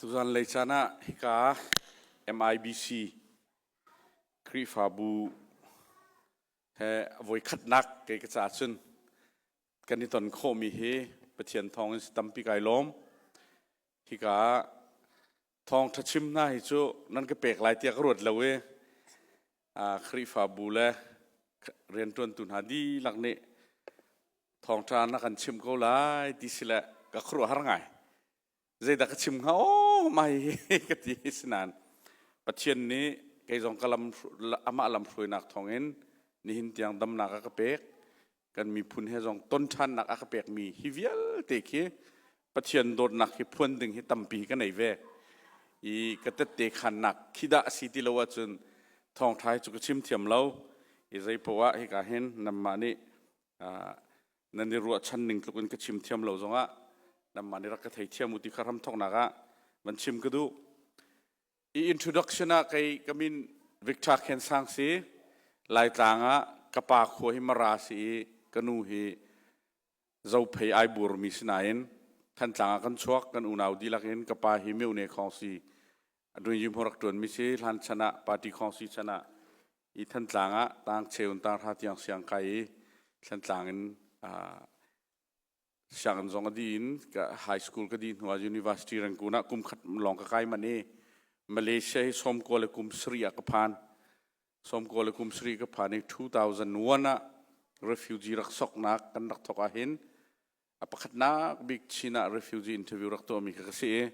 Tuzanlei caan ah hika MIBC Khrihfabu he voikhatnak kei ka ca cun kan i ton khawhmi hi Pathian thawng in si tampi kai lawm. Hika ah Thawngṭha chim hna hi cu nan ka pek lai tiah ka ruat lo i Khrihfabu le rianṭuantu hna dihlak nih thawngṭha na kan chimh ko lai ti si le ka khuaruahhar ngai. Zeidah ka chim hnga aw mai ka ti sinain Pathian nih kei zong ka lam amah lamhruainak thawngin nihin tiang damnak a ka pek. kan miphun he zong ton ṭhannak a ka pekmi hi vialte khi Pathian dawtnak hi phuan ding hi tampi ka nei ve i ka tette khannak khi dah a si ti lo ahcun thawngṭha hi cu ka chim thiam lo i zei poah hika hin nanmah nih nan i ruahchan ning tluk in ka chim thiam lo zongah nanmah nih rak ka thei thiam u ti kha hram thawknak ah van chim ka duh I introduction ah kei ka min Victor Khen Sang si. Laitlang ah ka pa khua hi Mara si i ka nu hi zophei ai burmi si nain Thantlang ah kan chuak kan unau dihlak in ka pa hi Myone khong si adun yim horak tuan mi si hlan chan ah party khong si chan ah i Thantlang ah tang cheun tang ra tiang siang kai i Thantlang in uh, Sianginn zong a di in high school ka di hnuah university rangkun ah kum khat lawng ka kai man i Malaysia hi sawmkua le kum sarih ah ka phan sawmkua le kum sarih ka phan i 2001 ah refugee rak soknak kan rak thok ahhin a pakhatnak bik Chin ah refugee interview rak tuahmi kha ka si i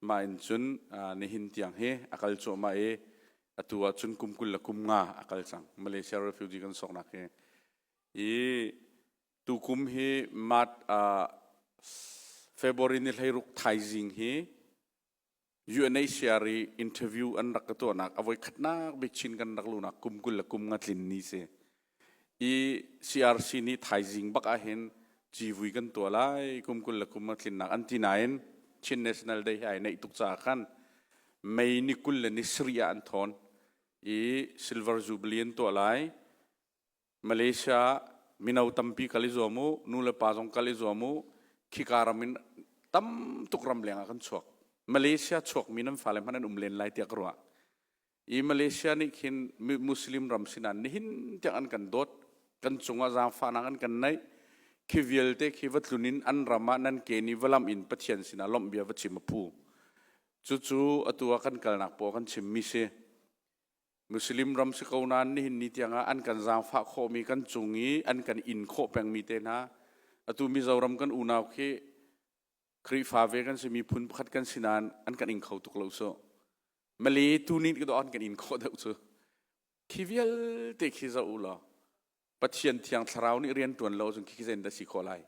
mah in cun nihin tiang hi a kal cuahmah i atu ah cun kum kul le kum nga a kal cang Malaysia refugee kan soknak hi i Tukum hi March, uh, February ni hleiruk thaizing hi UNHCR i interview an rak ka tuahnak avoi khatnak bik chin kan rak lunak kum kul le kum nga tlin ni si i CRC nih thaizing bak ah hin civui kan tua lai kum kul le kum nga tlinnak an ti nain Chin National Day hi ai neih tuk caah khan May ni kul le ni sri ah an thawn i Silver Jubilee an tuah lai Malaysia mino tampi kal i zuam u, nu le pa zong kal i zuam u. Khika ram in tam tuk ram lengah kan chuak. Malaysia chuakmi nan fale hmanh an um len lai tiah ka ruah. I Malaysia nih khin Muslim ram sinah nihin tiang an kan dawt. Kan cungah zaangfahnak an kan neih. Khi vialte khi va tlun in an ram ah nan ke nih va lamh in Pathian sinah lawmh bia va chim a phu. Cucu atu ah kan kalnak paoh kan chimmi si. Muslim ram si ko nain nihin ni tiangah an kan zaangfah khawhmi kan cung i an kan in khawh pengmi te hna atu Mizoram kan unau khi Khrihfa ve kan si miphun pakhat kan si nain an kan in kho tuk lo so Mali tu nih ka an kan in khawh deuh cu khi vialte khi za u law Pathian thiang thlarau nih rian ṭuan lo cun khi zeitin dah si khawh lai?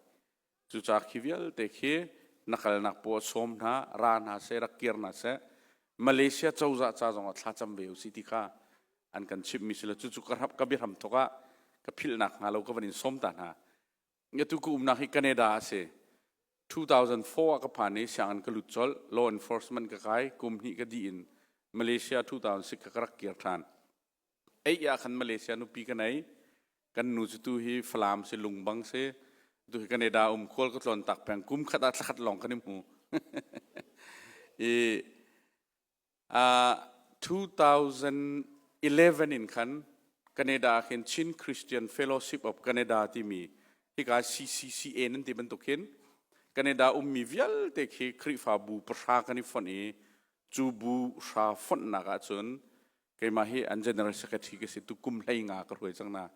Cucaah khi vialte khi na kalnak paw sawm hna, ra hna seh, rak kir hna seh, Malaysia cozah ca zongah thlacam ve u sih ti kha an kan chimhmi si lo. Cucu ka, ka biahram thawk ah ka philhnak hnga lo ka van in sawm ta hna. Ngatu ka umnak hi Canada a si. 2004 ah ka phan i sianginn ka lut colh. Law enforcement ka kai. Kum hnih ka dih in Malaysia 2006 ka rak kir ṭhan. Ei ah khan Malaysia nupi kan ei. Kan nu cu tu hi Falam si Lungbang si. Tu hi Canada um khual ka tlawn tak peng. Kum khat ah thlakhat lawng kan i hmu. I uh, 2011 in khan Canada ah khin Chin Christian Fellowship of Canada timi hika CCCA nan ti bantuk khin Canada ummi vialte khi Khrihfabu pahra kan i fonh i cu bu hra fonhnak ahcun keimah hi an general secretary ka si tukum hlei nga ka hruai cang na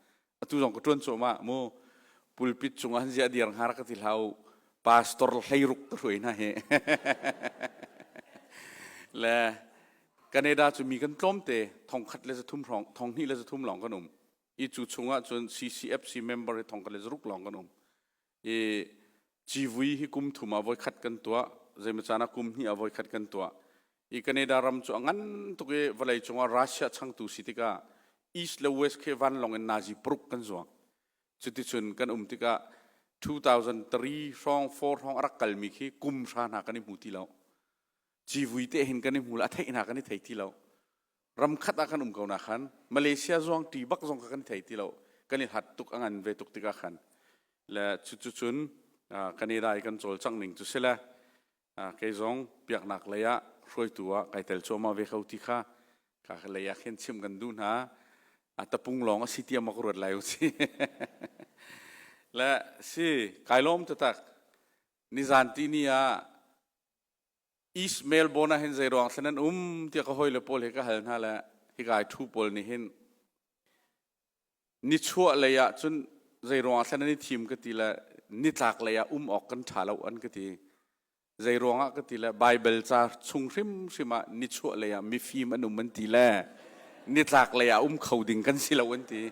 atu zong ka tuan cuahmah mu pulpit cung an ziah dir har ka ti hlau pastor hlei ruk ka hruai hna hi le Canada cu mi kan tlawm te thong khat le zathum rong thong hnih le zathum lawng kan um i cu chungah cun CCFC member hi thong khat le zaruk lawng kan um i civui hi kum thum ah voi khat kan tuah zeimacaan ah kum hnih ah voi khat kan tuah i Canada ram cu a ngan tuk i vawlei cungah Russia changtu si tikah east le west khi vanlawng in Nazi paruk kan zuang cuticun kan um tikah 2003 hrawng 4 hrawng a rak kalmi khi kum hra hna kan i hmu ti lo civui te hin kan i hmu lo a theih hna kan i thei ti lo ram khat ah kan um ko na khan Malaysia zong ti bak zong kan thei ti lo kan i hlat tuk a ngan ve tuk tikah khan le cucu cun kan i dai kan cawl cang ning cu si le kei zong piaknak lei ah hruaitu ah kai tel cuama ve kho ti kha ka lei ah khin chim kan du hna a tapung lawng a si tiam ka ruat lai u si le si kai lawm tatak nizan ti ni ah Ishmael bon ah hin zeiruang thlen an um tiah ka hawile pawl he ka hal hna le hikai thu pawl nih hin nichuah lei ah cun zeiruang thlen an i thim ka ti le nitlak lei ah um awk kan ṭha lo an ka ti zei ruangah ka ti le Baibal ca chung hrimhrim ah nichuah lei ah mifim an um an ti le nitlak lei ah um kho ding kan si lo an ti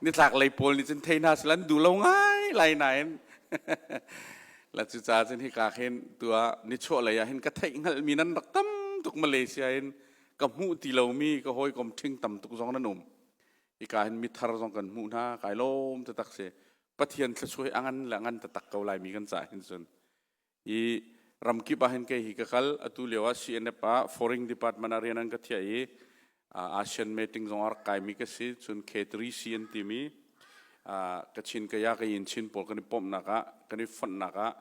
nitlak lei pawl nih cun thei hna sel an duh lo ngai lai nain la cu ca cin hika khin tua ni chuah lei ah hin ka theih ngal mi nan rak tam tuk Malaysia in ka hmuh ti lo mi ka hawi kom thing tam tuk zong nan um hika hin mithar zong kan hmuh hna kai lom te tak se pathian thlasuai angan le angan ta tak ko lai mi kan ca hin sun i ramkip ah hin ke hi ka kal atu leo ah CNF ah foreign department arian an ka thia i ASEAN meeting zong ar kaimi ka si cun K3C an timi Kachin kaya ka yin Chin pawl kan i pomnak ah kan i fonnak ah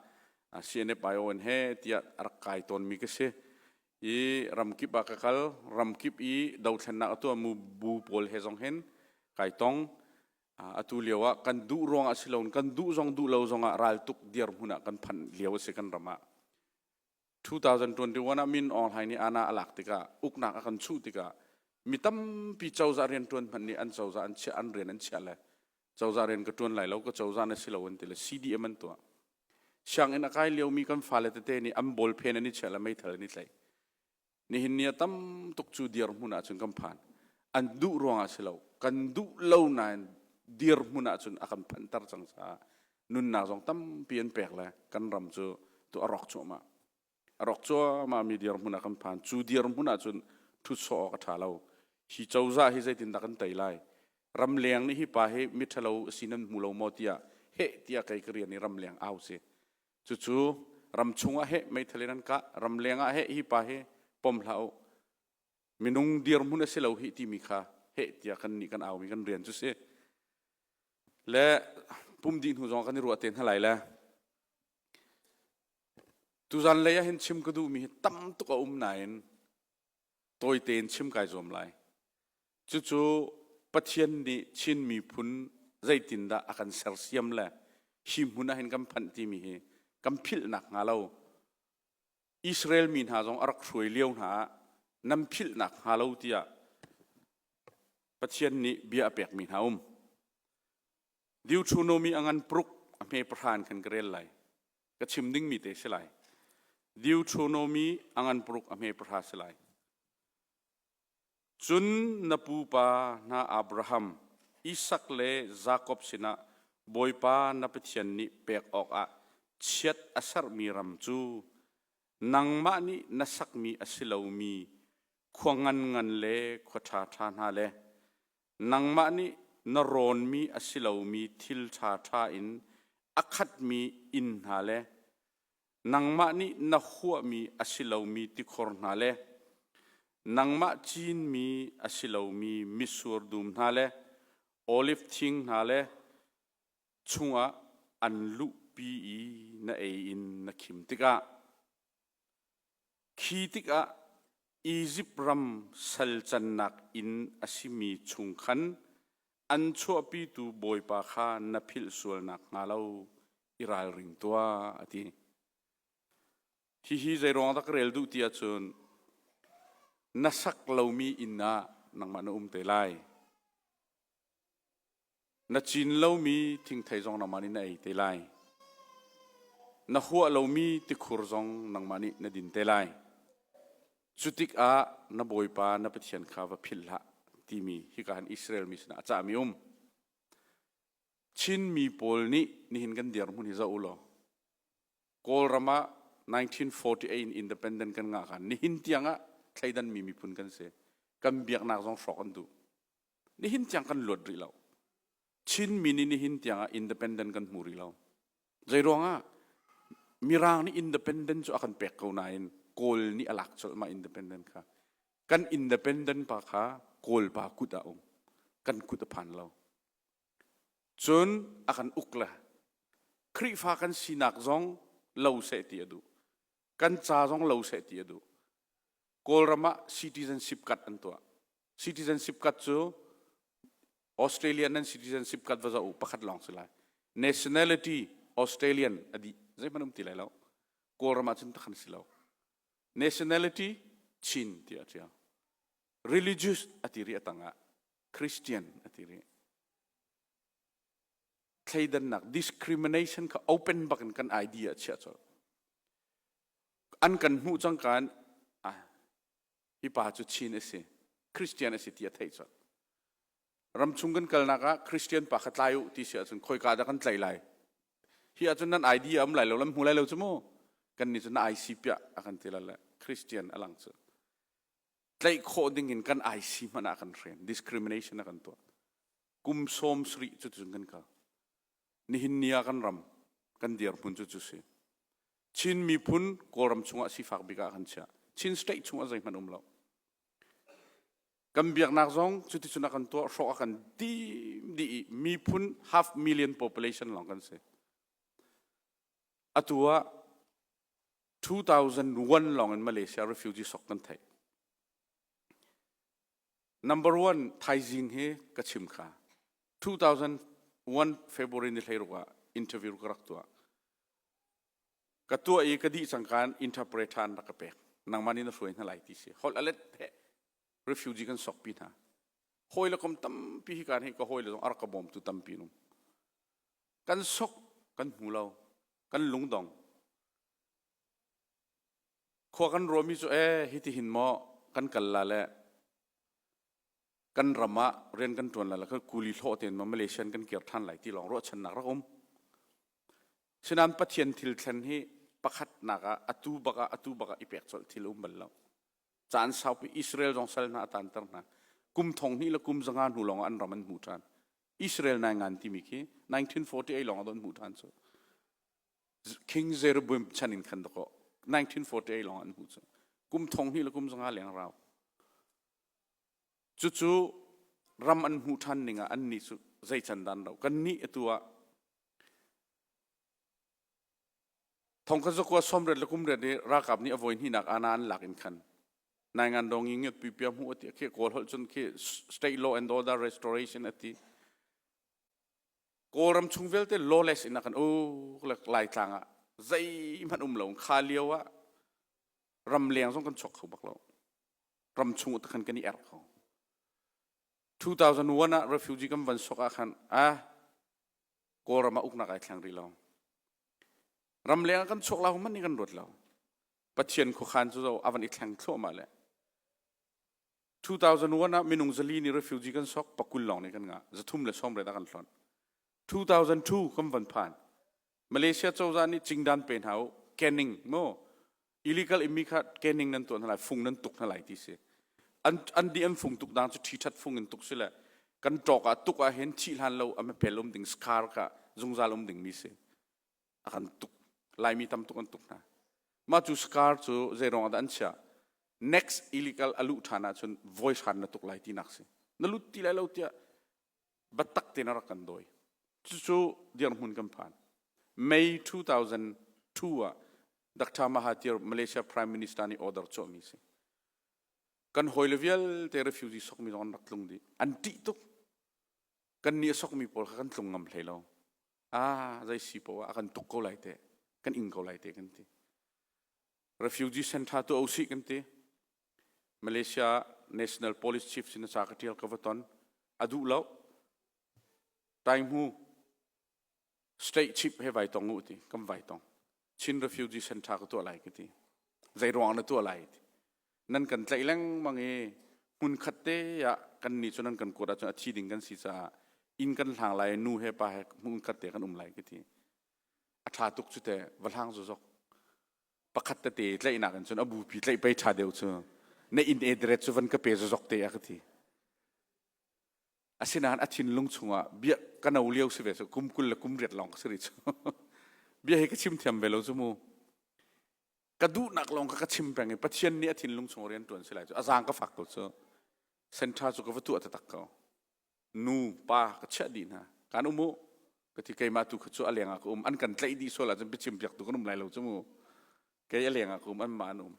CNFION he tiah rak kai tawnmi ka si i ramkip ah ka kal ramkip i dothlennak atu mu bu pawl he zong hin kai tong atu lio ah kan duh ruang ah si loin kan duh zong duh lo zong ah raltuk dir hmun ah kan phanh lio a si kan ram ah 2021 ah Min Aung Hlaing nih ANA a lak tikah uknak a kan chuh tikah mi tampi cozah rianṭuan hmanh nih an cozah an chiah an rian an chiah le cozah rian ka ṭuan lai lo ka cozah na si lo an ti le CDM an tuah sianginn a kai liomi kan fale tete nih an ball pen an i chiah le meithal an i tlaih Nihin ni a tam tuk cu dirhmun ahcun kan phan. An duh ruangah si lo, kan duh lo nain dirhmun ahcun a kan phanter cang caah nunnak zong tampi an pek le kan ram cu tu a rawk cuahmah. A rawk cuahmahmi dirhmun ah kan phan. Cu dirhmun ahcun ṭhutsawh awk a ṭha lo. Hi cozah hi zeitindah kan tei lai? Ramleng nih hi pa hi miṭhalo si nan hmu lo maw tiah heh tiah kei ka rian i ramleng au si. Cucu ram chungah he meithal in an kah ram lengah he hi pa hi pom hlah u minung dirhmun a si lo hi timi kha heh tiah kan nih kan aumi kan rian cu si le pum dih hnu zong kan i ruah te hna lai le tuzan lei ah hin chim ka duhmi hi tam tuk a um nain tawi tein chim kai zuam lai. Cucu Pathian nih Chin miphun zeitindah a kan sersiam le hi hmun ah hin kan phanh timi hi kan philh nakhnga lo Israel mi hna zong a rak hruai lio hna ah nan philh nakhnga lo tiah Pathian nih bia a pekmi hna um. Deuteronomy angan paruk a hme pahra in kan ka rel lai. ka chim dingmi te si lai deuteronomy angan paruk a hme pahra si lai cun na pupa na abraham isak le jakob sinah bawipa na pathian nih pek awkah chiat a sermi ram cu nangmah nih na sakmi a si lomi khua ngan ngan le khua ṭha ṭha hna le nangmah nih na rawnmi a si lomi thil ṭhaṭha in a khatmi inn hna le nangmah nih na huahmi a si lomi tikhor hna le nangmah cinmi a si lomi mitsur dum hna le oliv thing hna le chungah an luhpi i na ei in na khim tikah Khi tikah Izipt ram salcannak inn a simi chung khan an chuahpitu bawipa kha na philh sual nakhnga lo i ralring tuah, a ti. Hihi zeiruang dah ka rel duh ti ahcun, na sak lomi inn ah nangmah na um te lai. Na cin lomi thingthei zong nangmah nih na ei te lai. Na huah lomi tikhur zong nangmah nih na din te lai. Cu tikah na bawipa na Pathian kha va philh hlah timi hika han Israel mi sinah a cahmi um. Chinmi pawl nih nihin kan dirhmun hi zoh u law Kawlram ah 1948 independent kan ngah kan nihin tiang ah thleidanmi miphun kan si. Kan biaknak zong hrawk an duh. Nihin tiang kan luat rih lo. Chinmi nih nihin tiangah independent kan hmu rih lo. Zeiruangah Mirang nih independent cu a kan pek ko nain Kawl nih a lak colhmah independent kha. Kan independent pa kha Kawl pa kut ah um. Kan kut a phan lo. Cun a kan uk le Khrihfa kan sinak zong lo seh ti a duh. Kan ca zong lo seh ti a duh. Kawlram ah citizenship card an tuah. citizenship kat cu Australian nan citizenship kat va za u pakhat lawng si lai nationality Australian adi zeihmanh um ti lai lo kawlram ahcun takhan si lo nationality Chin ti a ṭial religious ati rih atangah Christian ati rih thleidannak discrimination kha open bak in kan idea chiah colh an kan hmuh cangka in ah Hipa cu Chin a si. Christian a si ti a theih colh. Ramchung kan kalnak ah Christian pa kha tlai u ti si ahcun khoika dah kan tlaih lai? Hi ahcun nan idea a um lai lo, nan hmu lai lo cu mu. Kannih cu na ai si piah a kan ti lale. Christian a lang cu. Tlaih khawh ding in kan ai si hmanh ah a kan hren. Discrimination a kan tuah. Kum sawm sarih cuticun kan kal. nihin ni ah kan ram kan dirhmun cu cu si Chin miphun Kawlram chungah sifak bik ah kan chiah Chin state chungah zeihmanh um lo kan biaknak zong cuticun a kan tuah hrawk a kan dim dih i miphun half million population lawng kan si atu ah 2001 lawng in Malaysia refugee sok kan theih Number one thaizing hi ka chim kha 2001 February ni hleiruk ah interview ka rak tuah ka tuah i ka dih cangka interpret han rak ka pek nangman in na hruai hna lai ti si hol alet he refugee kan sokpi hna hoi le kom tampi hi kan hi ka hoi le zong arka bom tu tampi nung kan sok kan hmu lo kan lungdong khua kan ruami cu ee hitihin maw kan kal la le kan ram ah rian kan ṭuan la la kha kuli hlawh tein maw Malaysian kan kir ṭhan lai ti lawng ruahchannak rak um. Sinain Pathian thil thlen hi pakhatnak ah atu bak ah atu bak ah i pek colh thil um bal lo. Caan saupi Israel zong sal hna a tanter hna. Kum thong hnih le kum zanga hnu lawng an ram an hmu ṭhan. Israel nai ngan timi khi 1948 lawng a don hmu ṭhan cu. King Jeroboam chan in khan dakaw 1948 lawng an hmuh cu kum thong hi le kum zanga leng rau cucu ram an hmuh ṭhan ning ah annih cu zei can dan ro kan nih atu ah thongkha zakua somret le kumret i ralkap nih a voi hninak ana an lak in khan naingan dong i ngiat pipia hmu ati akhe kawl hol cun khi state law and order restoration ati Kawlram chung vialte lawless in a kan uk Laitlang ah zeihmanh um lo kha lio ah ramleng zong kan chuak kho bak lo ram chung ah khan kan i erh kho 2001 ah refugee kan van sok ah khan ah kawlram ah uknak ai thleng rih lo ramleng ah kan chuak lau man ni kan ruat lo pathian khuakhan cu zo avan i thleng thluahmah le 2001 ah minung zali nih refugee kan sawk pakul lawng nih kan ngah zathum le sawmret ah kan hlonh 2002 kan van phan malaysia cozah nih cingdan pe hna u kenning mo illegal immi kha kenning nan tuah hna lai fung nan tuk hna lai ti si an an di an fung tuk dang cu thi that fung in tuk si le kan ṭawk ah tuk ah hin thih hlan lo am pel um ding scar ka zungzal um ding mi si a kan tuk laimi tam tuk an tuk hna mah cu scar cu zeiruang ahdah an chiah next illegal a luh ṭhan ahcun voi hran na tuk lai tinak si na lut ti lai lo tiah batak tein a rak kan dawi cucu dirhmun kan phan May 2002 ah Dr. Mahathir Malaysia Prime Minister nih order chuahmi si kan hawile vialte refugee sokmi zong an rak tlung dih an ṭih tuk kan nih a sokmi pawl kha kan tlung ngam hlei lo ah zei si poah a kan tuk ko lai te kan ing ko lai te kan ti refugee center tu ausi kan ti malaysia national police chief sin sa ka tial ka va ton adu lo tai mu state chip he vai tong u ti kan vai tong Chin refugee center ka tuah lai ka ti zei ruang na tuah lai ti nan kan tlaih lengmang i hmun khat te ah kan ni cu nan kan kuat ahcun a thi ding kan si caah inn kan hlang lai nu he pa he hmun khat te kan um lai ka ti a tha tuk cu te va hlang zu zok pakhat te te tlaihnak in cun a bupi tlaih pei tha deuh cu na in edret cu van ka pe zu zok te a ka ti Asinain a thinlung chungah bia ka no lio si ve cu kum kul le kum riat lawng ka si rih cu. bia hi ka chim thiam ve lo cu mu. Ka duhnak lawng ka ka chim peng i Pathian nih a thinlung chung rian tuan si lai cu. A zaang ka fak ko cu. Senṭha cu ka va tuah taktak ko. Nu, pa ka chiah dih hna. Kan um u. Ka ti keimah tu kha cu a lengah ka um. An kan tlaih dih sual ahcun biachim piak tu kan um lai lo cu mu. Kei a lengah ka um, anmah an um.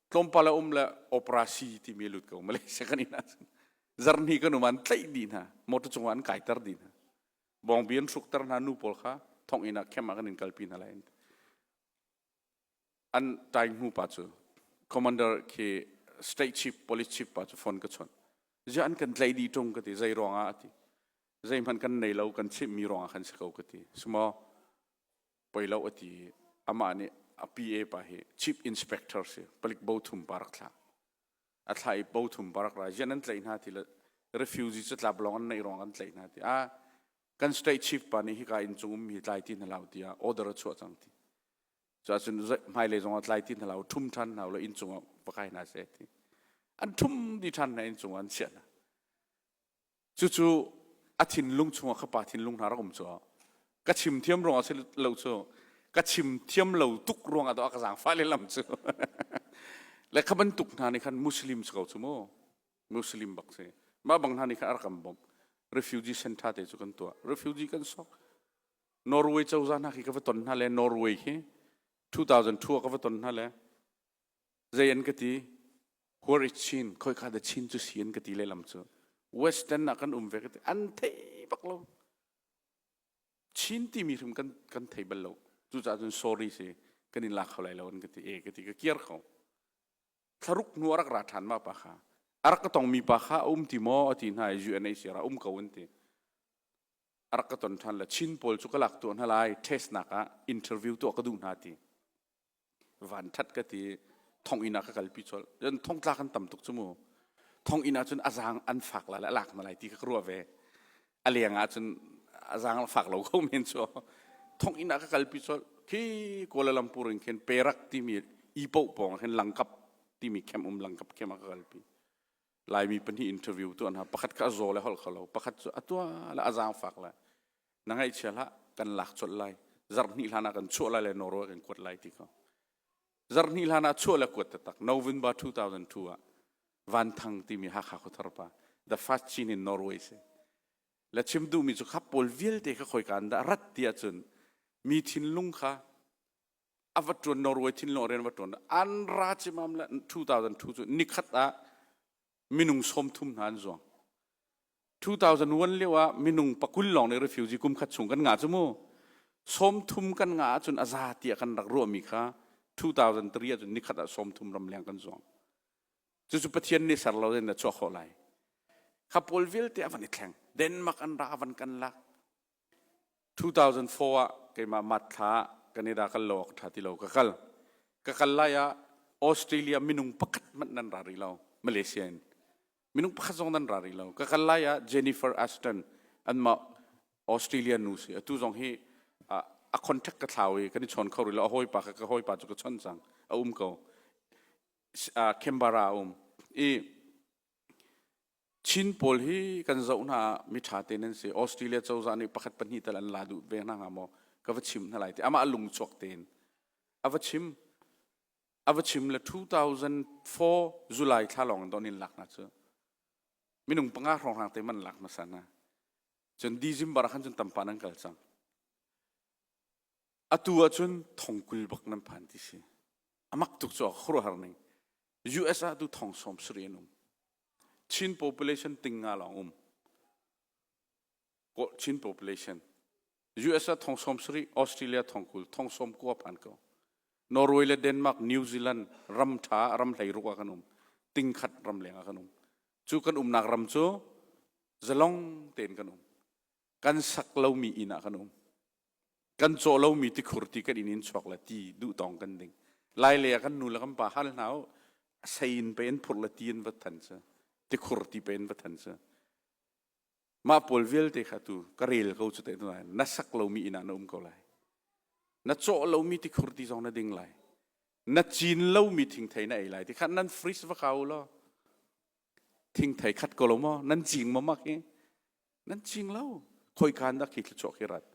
tlawmpal a um le operasi timi lut ko Malaysia kan in ahcun zarni kan um an tlaih dih hna motor cungah an kaiter dih hna bawngbi an hrukter hna nu pawl kha thong inn ah camp ah kan in kalpi hna lai an tai hnu pa cu commander khi state chief police chief pa cu phone ka chon ja an kan tlai dih ṭung ka ti zei ruangah ati zeihmanh kan nei lo kan chimh mi ruangah kan si ko ka ti simo poi lo ati amah nih a PA pa hi chief inspector si palik bo thum parak thla a thla i bo thum parak ra yan an tlai hna ti le refugee cu tlab long an nei rong an tlai hna ti a kan state chief pa nih hi ka in chung um hi tlai ti na lau tia order a chuah cang ti cha chun hmai le zong tlai ti na lau thum than hna lo in chung pakai na se ti an thum di than na in chung an sia na Cucu a thinlung chungah ka pa thinlung hna rak um cu ka chim thiam ruangah si lo cu ka chim thiam lo tuk ruangah to a ka zaangfah lehlam cu le kha bantuk hna nih khan muslim si ko cu mu muslim bak si mah bang hna nih khan a rak kan bawmh refugee center te cu kan tuah refugee kan sok norway cozah hna khi ka va ton hna le norway hi 2002 ka va ton hna le Zei an ka ti? Huar i chin, khoi kha da chin cu si an ka ti lehlam cu. Western ah kan um ve ka ti, an thei bak lo. Chin timi hrim kan, kan thei bal lo. Cucaah cun sorry si, kan in la kho lai lo an ka ti, e ka ti, ka kiar ko. Thlaruk hnu a rak ra ṭhan ma pa kha. A rak ka tongmi pa kha a um ti maw a ti hna i UNHCR ah um ko an ti. A rak ka ton ṭhan le Chin pawl cu ka lak tuah hna lai, test nak ah interview tuah ka duh hna ti. Vanthat ka ti thonginn ah ka kalpi colh. Cun thongtla kan tam tuk cu mu. Thonginn ah cun azang an fak la le alak na lai ti ka ruah ve. A leng ah cun azang fak lo ko men cu. Thonginn ah ka kalpi colh. Khi Kuala Lumpur in khin Perak timi ipoh pawng khin langkap timi camp um langkap khem ah ka kalpi. Laimi pahnih interview tu hna pakhat kha a zaw le holh kho lo pakhat cu a tua le a zaang fak le na ngaihchia hlah kan lak colh lai zarh hnih hlan ah kan chuah lai le Norway kan kuat lai ti kho zarh hnih hlan ah chuah le kuat taktak November 2002 ah Van Thang timi Hakha khuthar pa the first Chin in Norway si le chim duhmi cu khap pawl vialte kha khoi kan dah rat ti ahcun mi thinlung kha a va ṭuan Norway thinlawng rian va ṭuan an ra cimam le 2002 cu nikhat ah minung sawmthum hna an zuang 2001 lio ah minung pakul lawng nih refugee kum khat chung kan ngah cu mu sawmthum kan ngah ahcun a za tiah kan rak ruahmi kha 2003 ahcun nikhat ah sawmthum ram leng kan zuang cucu pathian nih ser lo in a chuah khawh lai kha pawl vialte a van i thleng denmark an ra a van kan lak 2004 ah keimah mat thla ah Canada kal lo ah ka ṭha ti lo ka kal. Ka kal lai ah Australia minung pakhat hmanh nan ra rih lo Malaysia in. Minung pakhat zong nan ra rih lo. Ka kal lai ah Jennifer Aston anmah Australia nu si. Atu zong hi a, a contact ka thlau i kan i chawn kho rih lo. A hawipa ka, ka hawipa cu ka chon cang. A um ko. Uh, Canberra a um. I Chin pawl hi kan zoh hna ah miṭha tein an si. Australia cozah nih pakhat pahnih tal an la duh ve hna hnga maw? Ka va chim hna lai ti. Amah a lungchuak tein. A va chim. A va chim le 2004 July thla lawng in don in lak hna cu. Minung panga hrawnghrang te man lak hmasa hna. Cun December ah khan cun tampa nan kal cang. Atu ah cun thongkul bak nan phan ti si. A mak tuk cu a khuruhar ning. US ah tu thong sawm sarih an um. Chin population ting nga lawng um. Chin population. US ah thong sawm sarih, Australia thong kul, thong sawm kuap an ko. Norway le Denmark, New Zealand ram tha, ram hlei ruk ah kan um. Ting khat ram leng ah kan um. Cu kan umnak ram cu zalong tein kan um. kan sak lomi inn ah kan um kan caw lomi tikhur ti kan inn in chuak le ti duh tong kan ding lai le ah kan nu le kan pa hal hna u sain pe in phur le ti in vat than sa tikhur ti pe in vat than sa mah pawl vialte kha tu ka rel ko cu te tu lai na sak lomi inn ah na um ko lai na caw lomi tikhur ti zong na ding lai na cin lomi thingthei na ei lai ti khan nan freeze va kau law thingthei khat ko lo maw nan cing maw mak i nan cing lo khoikan dak hi thluchuah khi rat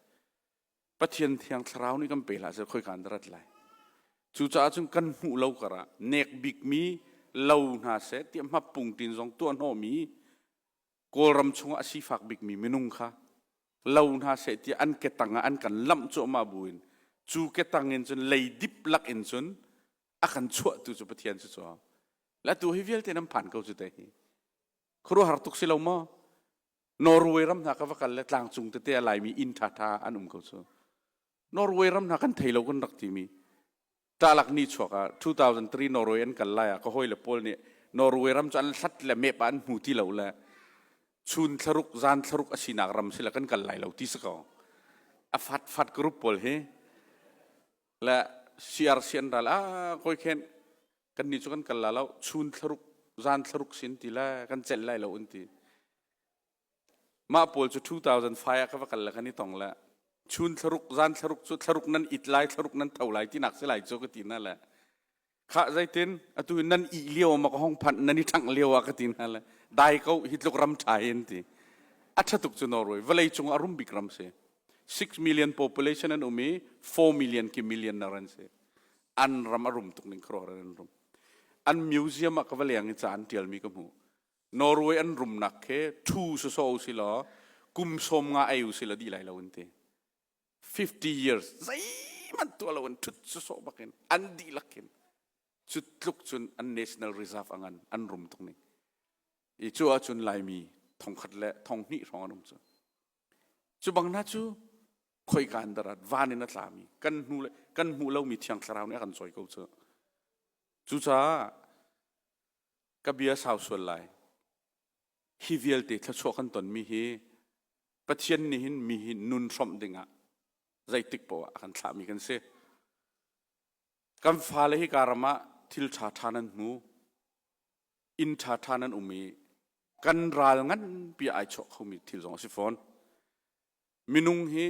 pathian thiang thlarau nih kan pe hlah seh khoikan rat lai cucaah cun kan hmuh lo karah nek bik mi lo hna seh tiah mapung tin zong tuah hnawmi kawlram chungah sifak bikmi minung kha lo hna seh tiah an ketang ah an kan lamh cuahmah bu in cu ketang in cun leidip lak in cun a kan chuahtu cu Pathian cu cu latu hi vialte nan phan ko cu te hi khuaruahar tuk si lo maw Norway ram hna ka va kal le tlangcung tete a laimi inn ṭhaṭha an um ko cu Norway ram hna kan thei lo kan rak timi ṭalak ni chuak ah 2003 Norway an kal lai ah ka hoi le pawl nih Norway ram cu an hlat le mep ah an hmu ti lo le chun thlaruk zan thlaruk a sinak ram sila kan kal lai lo ti si ko a fat fat group pawl hi le siar sian ral a koi khen kan ni chu kan kal la lo chun thlaruk zan thlaruk sin ti le kan cel lai lo un ti mah pawl cu 2005 ah ka va kal le kan i tong le chun thlaruk zan thlaruk cu thlaruk nan it lai thlaruk nan tho lai ti nak si lai cu ka ti na le khah zeitin atu nan ih lio ma ka hong phanh nan i ṭhangh lio ah ka ti hna le dai ko hi tluk ram ṭha in ti a ṭha tuk cu Norway vawlei cung a rum bik ram si 6 million population an um i 4 million ki million na ran si an ram a rum tuk ning khro an rum an museum ah ka va leng i ca an ṭialmi ka hmu Norway an rumnak he thu so so si law kum som nga ei u si la di lai lo an ti 50 years zeihmanh tuah lo in ṭhut cu sawh bak in an dihlak in cu tluk cun an national reserve angan an rum tung ning i cu ahcun laimi thongkhat le thonghnih hrawng an um cu cu bang hna cu khoika an darat van in a tlami kan hnu le kan hmuh lomi thiang thlarau nih a kan cawi ko cu cucaah ka bia sau sual lai Hi vialte thluachuah kan tonmi hi Pathian nih hin mi hi nun hrawmh dingah zeitik poah a kan thlahmi kan si. Kan fale hika ram ah thil ṭha ṭha nan hmu, inn ṭha ṭha nan um i kan ral nganpi ai chuah khomi thil zong a si fawn. Minung hi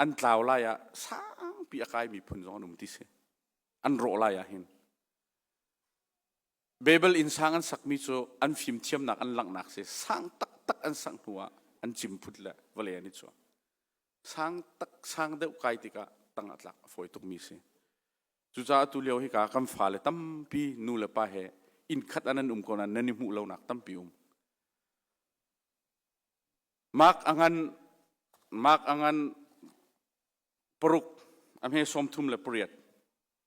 an tlau lai ah sangpi a kai miphun zong an um ti si. An rawh lai ah hin. Babel innsang an sakmi cu an fimthiamnak an langhnak si sang taktak an sangh hnu ah an cim phut le vale an i cuah sang tak sang deuh kai tikah tang a tlak a fawi tukmi si cucaah tu lio hika kan fale tampi nu le pa he innkhat an an um ko nan i hmuh lonak tampi um mark angan mark angan paruk a hme sawm thum le pariat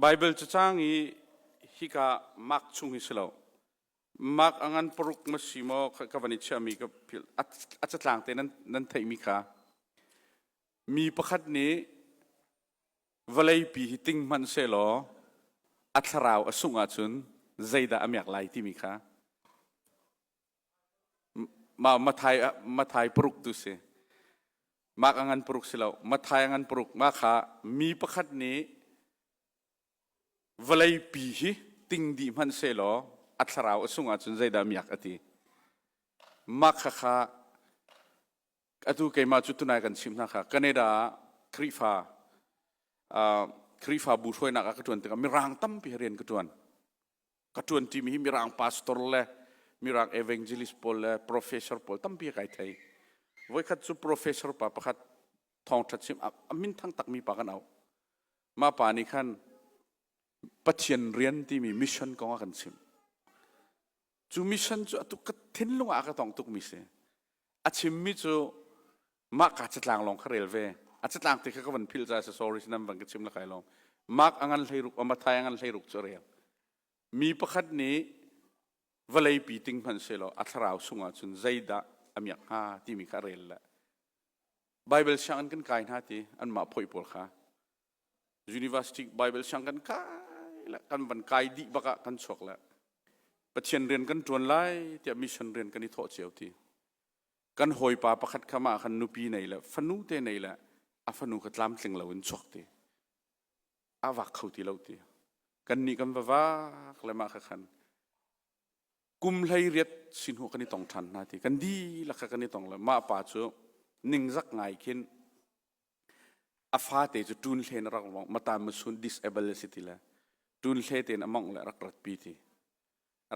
Baibal cacang i hika mark chung hi si lo. Mark a ngan paruk ma si maw ka van i chiahmi ka philh. A catlang te nan theihmi kha. Mi pakhat nih vawleipi hi ting hmanh se law a thlarau a sungh ahcun zeidah a miak lai timi kha Mathai, Mathai paruk tu si. Mah a ngan paruk si lo. Mathai a ngan paruk. Mah kha mi pakhat nih vawlei pi hi ting dih hmanh se law a thlarau a sungah cun zeidah miak a ti. Mah kha kha atu keimah cu tunai kan chim hna kha Canada ah Khrihfa uh, Khrihfabu hruainak ah ka ṭuan tikah mirang tampi rian ka ṭuan. ka ṭuanṭimi hi mirang pastor le mirang evangelist pawl le professor pawl tampi kai thei voikhat cu professor pa pakhat thawngṭha chim a min thang takmi pa kan au mah pa nih khan Pathian rian timi mission kong a kan chim cu mission cu atu ka thinlung ah ka tong tukmi si a chimmi cu mahka catlang lawng kha rel ve a catlang ti kha ka van philh ca si sorry sinam van ka chim lakai lawng mark angan hleiruk amathai angan hleiruk cu rel mi pakhat nih vawlei pi ting hman se law a thlarau sungah cun zeidah a miak hnga timi kha rel le bible sianginn kan kai hna ti an mah phoi pawl kha university bible siang kan kai le kan van kai di baka kan chuak le pathian rian kan tuan lai tiah mission rian kan i thawh cio ti kan hawipa pakhat kha mah khan nupi nei le fanu te nei le a fanu kha tlamtling lo in chuak ti a vak kho ti lo ti kan nih kan vavak le mah kha khan kum hlei riat sin hu kan i tong ṭhan hna ti kan di lakha kan i tong le mah pa cu ningzak ngai khin a fate cu ṭun hlen a rak mong mata masun disable a si ti le ṭun hle tein a mong le rak rat pi ti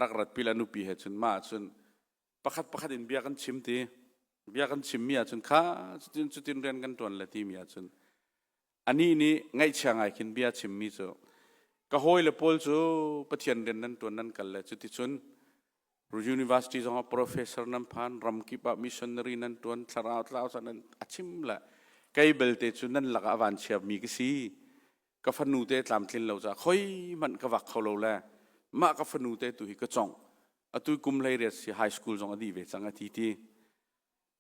rak rat pi la nupi he cun mah cun pakhat pakhat in bia kan chim ti bia kan chimmi ahcun kha cutin cutin rian kan ṭuan le timi ahcun anih nih ngaihchia ngai khin bia chimmi cu ka hawi le paul cu pathian rian nan ṭuan nan kal le cuticun university zongah professor nan phan ramkip ah missionary nan ṭuan thlarau tlau nan a chim le kei belte cu nan lakah van chia mi ka si ka fanu te tlamtlin lo ca khoi hmanh ka vak kho lo le mah ka fanu te tu hi ka cong atu kum lei riat si high school zong a dih ve cang a ti ti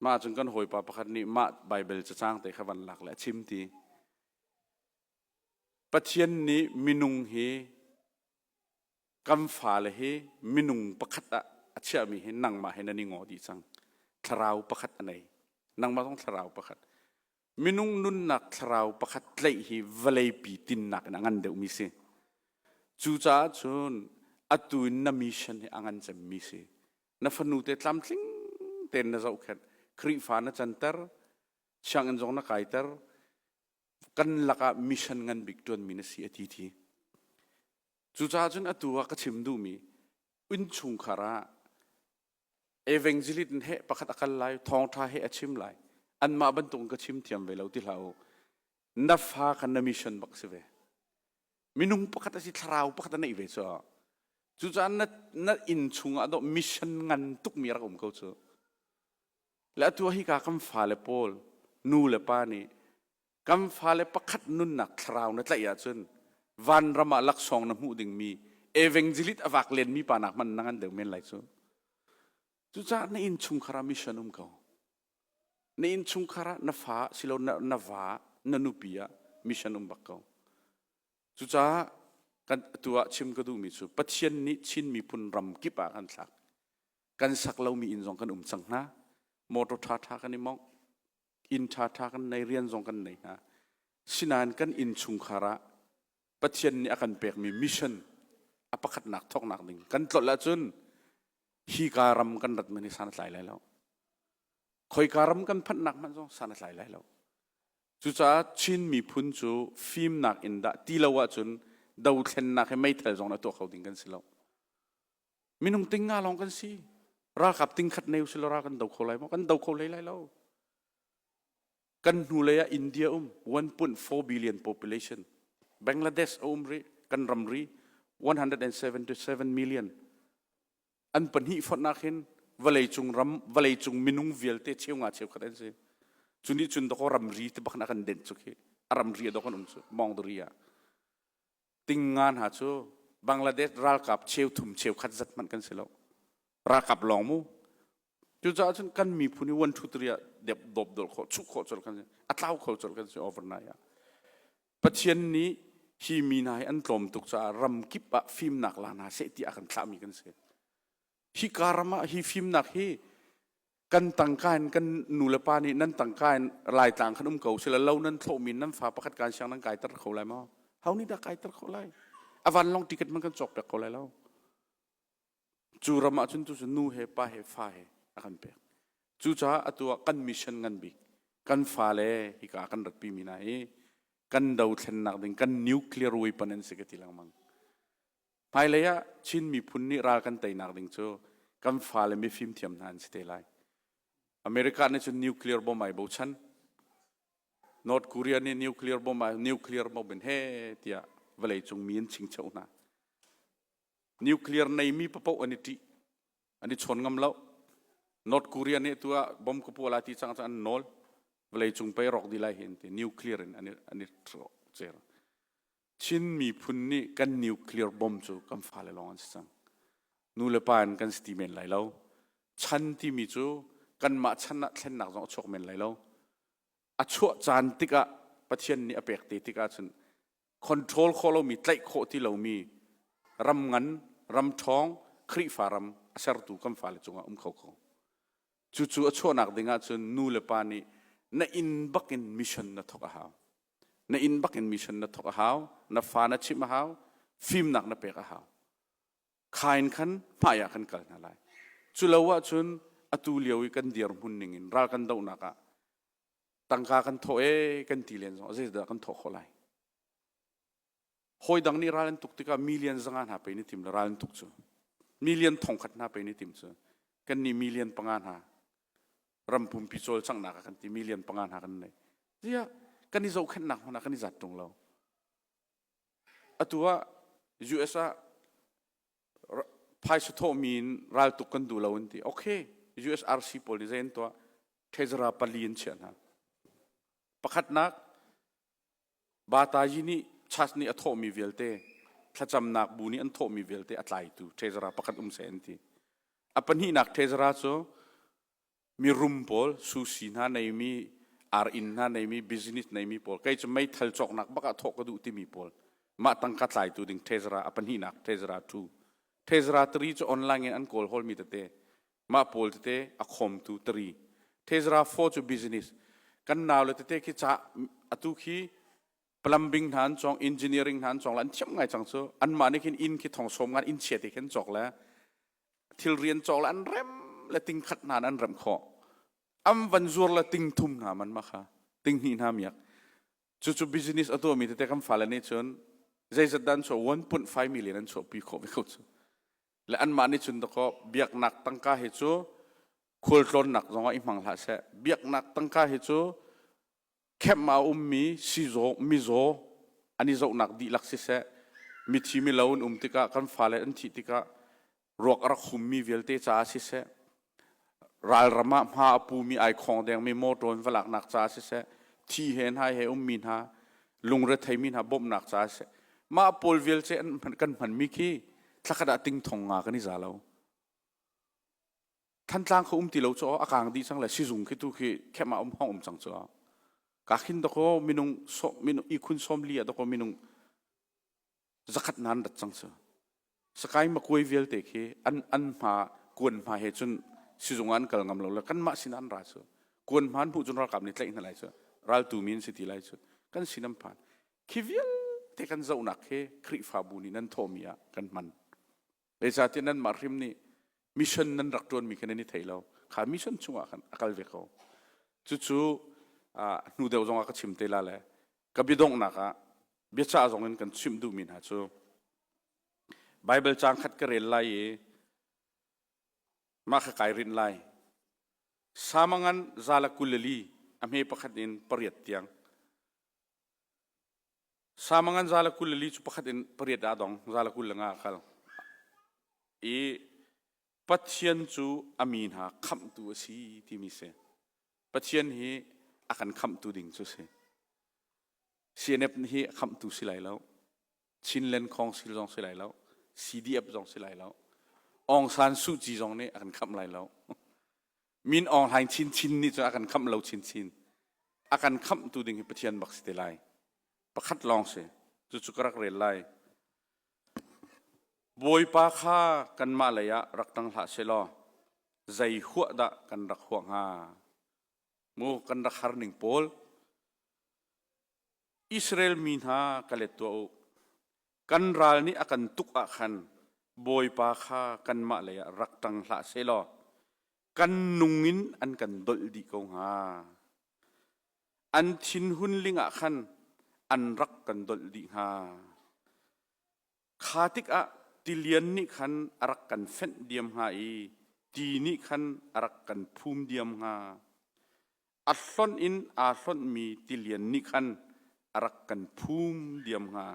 mah cun kan hawipa pakhat nih mah bible cacang te kha van lak le a chim ti pathian nih minung hi kan fale hi minung pakhat ah a chiahmi hi nangmah he nan i ngo dih cang thlarau pakhat a nei nangmah zong thlarau pakhat Minung nunnak thlarau pakhat tlaih hi vawleipi tinnak in a ngan deuhmi si. Cucaah cun atu in na mission hi a ngan cemmi si. Na fanu te tlamtling tein na zohkhenh. Khrihfa na canter. Sianginn zong na kaiter. Kan lakah mission ngan bik ṭuanmi na si a ti ti. Cucaah cun atu ah ka chim duhmi, innchungkhar ah Evangelist he pakhat a kal lai, thawngṭha he a chim lai. Anmah bantukin ka chim thiam ve lo ti hlah u. Na fa kha na mission bak si ve. Minung pakhat a si thlarau pakhat a neih ve cu. Cucaah na, na inn chungah dawh mission ngan tukmi rak um ko cu. Le atu ah hika kan fale pawl, nu le pa nih Kan fale pakhat nunnak thlarau na tlaih ahcun vanram ah laksawng na hmuh dingmi evangelit a vak lenmi pa nak hmanh na ngan deuh men lai cu. Cucaah na innchungkhar ah mission um ko. Na innchungkhar ah na fa silo na, na va na nupi ah mission um bak ko. Cucaah kan tu ah chim ka duhmi cu Pathian nih Chin miphun ram kip ah kan thlak. Kan sak lomi inn zong kan um cang hna. Motor ṭha ṭha kan i mongh. inn ṭhaṭha kan nei rian zong kan nei hna sinain kan innchungkhar ah Pathian nih a kan pekmi mission a pakhatnak thawknak ding kan tlolh ahcun hi ka ram kan rat men hi san tlai lai lo khoika ram kan phanhnak hmanh zong san tlai lai lo cucaah Chin miphun cu fimnak in dah ti lo ahcun dothlennak he meithal zong na tuah kho ding kan si lo minung ting nga lawng kan si ralkap ting khat ne usila ra kan do kho lai maw kan do kho hlei lai lo kan hnu lei ah india um 1.4 billion population bangladesh a um ri kan ram ri 177 million an pahnih fotnak hin vawlei cung ram vawlei cung minung vialte cheu nga cheu khat an si cuni cun dako ram ri te bakna kan den chu khi a ram ri a do kan um chu mong dori ah ting nga hna cu Bangladesh ralkap cheuthum cheukhat zat hmanh kan si lo ralkap lawng mu cucaah cun kan miphun i one two three ah dep dop dol khawh chuk khawh col kan si a tlau kho col kan si overnight ah Pathian nih hi mi hna hi an tlawm tuk caah ram kip ah fimnak la hna seh ti a kan thlahmi kan si hika ram ah hi fimnak hi kan tangka in kan nu le pa nih nan tangka in laitlang kan um ko sila lo nan thlawhmi nan fa pakhat kan siang nan kai ter kho lai maw hau nih dah kai ter kho lai avan long ticket man kan cawk pek ko lai lo cu ram ah cun tu nu he pa he fa he a kan pek cucaah atu ah kan mission ngan bik kan fa le hika kan ratpi mi na hi kan do thlennak ding kan nuclear weapon an si ka ti lengmang Hmailei ah Chin miphun nih ral kan teinak ding cu kan fale mifim thiam hna an si te lai. America nih cun nuclear bomb ai bochan. North Korea nih nuclear bomb ai nuclear bomb in he tiah vawleicung mi an chingcheu hna. Nuclear neimi papoh an i ṭih. An i chawn ngam lo. North Korea nih tu ah bomb ka pual a ti cang cang an nawl. Vawleicung pei rawk di lai hi an ti. Nuclear in an i, an i ṭhawcer. Chin miphun nih kan nuclear bomb cu kan fale lawng an si cang. Nu le pa in kan si ti men lai lo. Chan timi cu kanmah chan ah thlennak zong a chuak men lai lo. A chuah caan tikah Pathian nih a pek te tikah cun control khawh lomi, tlaih khawh ti lomi ram ngan, ram ṭhawng, Khrihfa ram a sertu kan fale cungah um kho ko. Cucu a chuahnak ding ahcun nu le pa nih na inn bakin mission na thawk a hau. Na inn bakin mission na thawk a hau, na fa na chimh a hau, fimnak na pek a hau. Kha in khan hmai ah kan kal hna lai. Cu lo ah cun atu lio i kan dirhmun ning in ral kan dohnak ah tangka kan thawh ee kan ti len zong ah zeidah kan thawh khawh lai? Hawi dang nih ral an tuk tikah million zanga hna pei nih tim le ral an tuk cu. Million thongkhat hna pei nih tim cu. Kan nih million panga hna ram pumpi cawlcanghnak ah kan ti million panga hna kan nei. Tiah kan i zohkhenhnak hmun ah kan i zat ṭung lo. Atu ah US ah phaisa thawhmi in raltuk kan duh lo an ti. Okay, USRC pawl nih zei an tuah? Threzara pali an chiah hna. Pakhatnak, Batayi nih church nih a thawhmi vialte thlacamnak bu nih an thawhmi vialte a tlaitu treasurer pakhat um seh an ti. A pahnihnak treasurer cu mi rum pawl, susi hna neimi, ar-inn hna neimi, business neimi pawl, kei cu meithal cawknak bak ah thawh ka duh timi pawl, mah tangka tlaitu ding treasurer, a pahnihnak treasurer, two. Treasurer tri cu online in an kawl holmi tete, mah pawl tete a khawmtu tari Tezra Fo cu business kan nau le tete khi ca atu khi plumbing hna an cong engineering hna an cong la an thiam ngai cang cu an mah nih khin inn khi thong som ngan inn chia te khin cok le thil rian cok le an rem le ting khat hna an rem khawh am van zuar le ting thum hna man ma kha ting hni hna miak cu cu business atu mi tete kan fale nih cun zeizat dan chuah 1.5 million an chuah pi khawh ve ko cu le anmah nih cun dakaw biaknak tangka hi cu khualtlawnnak zongah i hmang hlah seh biaknak tangka hi cu khem a ummi sizaw mizaw an i zohnak dihlak siseh mithi milo an um tikah kan fale an thih tikah ruak a rak hummi vialte caah siseh Ralram ah hma a pumi ai khawng dengmi motor in va laknak ca siseh, thi he hnai he ummi hna, lungrethei mi hna bawmhnak ca siseh, mah pawl vialte an kan hmanmi khi thlakhat ah tingthong nga kan i za lo. Thantlang kha um ti lo cu a kang dih cang le sizung khi tu khi khem ah um hong um cang cu. Ka khin doko minung so minung i khun som li a doko minung zakhat nan rat cang cu sakai makuai vialte khi an an hma kuan hma he cun sizung an kal ngam lo le kan mah sin an ra cu kuan hma an hmuh cun ralkap nih tlaih hna lai cu raltu min si ti lai cu kan sin an phan khi vialte kan zohnak he khrihfabu nih nan thawhmi ah kan hman zeicahtiah nanmah hrim nih mission nan rak ṭuanmi kha nan i thei lo kha mission chungah khan a kal ve ko cucu hnu deuh zongah ka chim te la le ka biadonghnak ah biacah zongin kan chimh duhmi hna cu Baibal caang khat ka rel lai i mah kha kai rinh lai samangan zala kulali a hme pakhat in pariat tiang Samangan zala kul le li cu pakhat in pariat ah dong zala kul le nga a kal i Pathian cu a mi hna khamhtu a si timi si. Pathian hi a kan khamhtu ding cu si. CNF hi a khamhtu si lai lo. Chinland Khong si zong si lai lo. CDF zong si lai lo. Aung San Suu Kyi zong nih a kan khamh lai lo. Min Aung Hlaing chinchin nih cun a kan khamh lo chinchin. A kan khamhtu ding hi Pathian bak si te lai. Pakhat lawng si. Cucu ka rak rel lai. Bawipa kha kanmah lei ah rak tang hlah se law zei huah dah kan rak huah hnga? Mu kan rak har ning pawl Israel mi hna ka let tuah u. Kan ral nih a kan tuk ah khan Bawipa kha kanmah lei ah rak ṭang hlah sehlaw kan nung in an kan dolh dih ko hnga. An thinhun ling ah khan an rak kan dolh dih hnga. kha tikah tilian nih khan a rak kan fenh diam hnga i ti nih khan a rak kan phum diam hnga a hlonh in aa hlonhmi tilian nih khan a rak kan phum diam hnga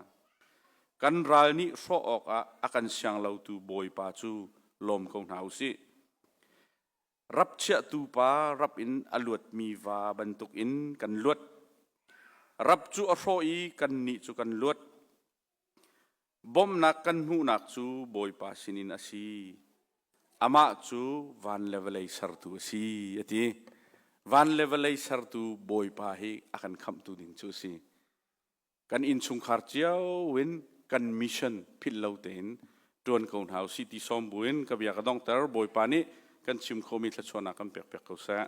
kan ral nih hrawh awkah a kan sianglotu bawipa cu lawm ko hna u sih rapchiahtu pa rap in a luatmi va bantukin kan luat rap cu a hrawh i kannih cu kan luat Bawmhnak kan hmuhnak cu Bawipa sinin a si. Amah cu van le vawlei sertu a si, a ti. Van le vawlei sertu Bawipa hi a kan khamhtu ding cu a si. Kan innchungkhar cio in kan mission philhlo tein ṭuan ko hna u sih ti sawm buin ka bia ka dongter. Bawipa nih kan chim khomi thluachuahnak kan pekpiak ko seh.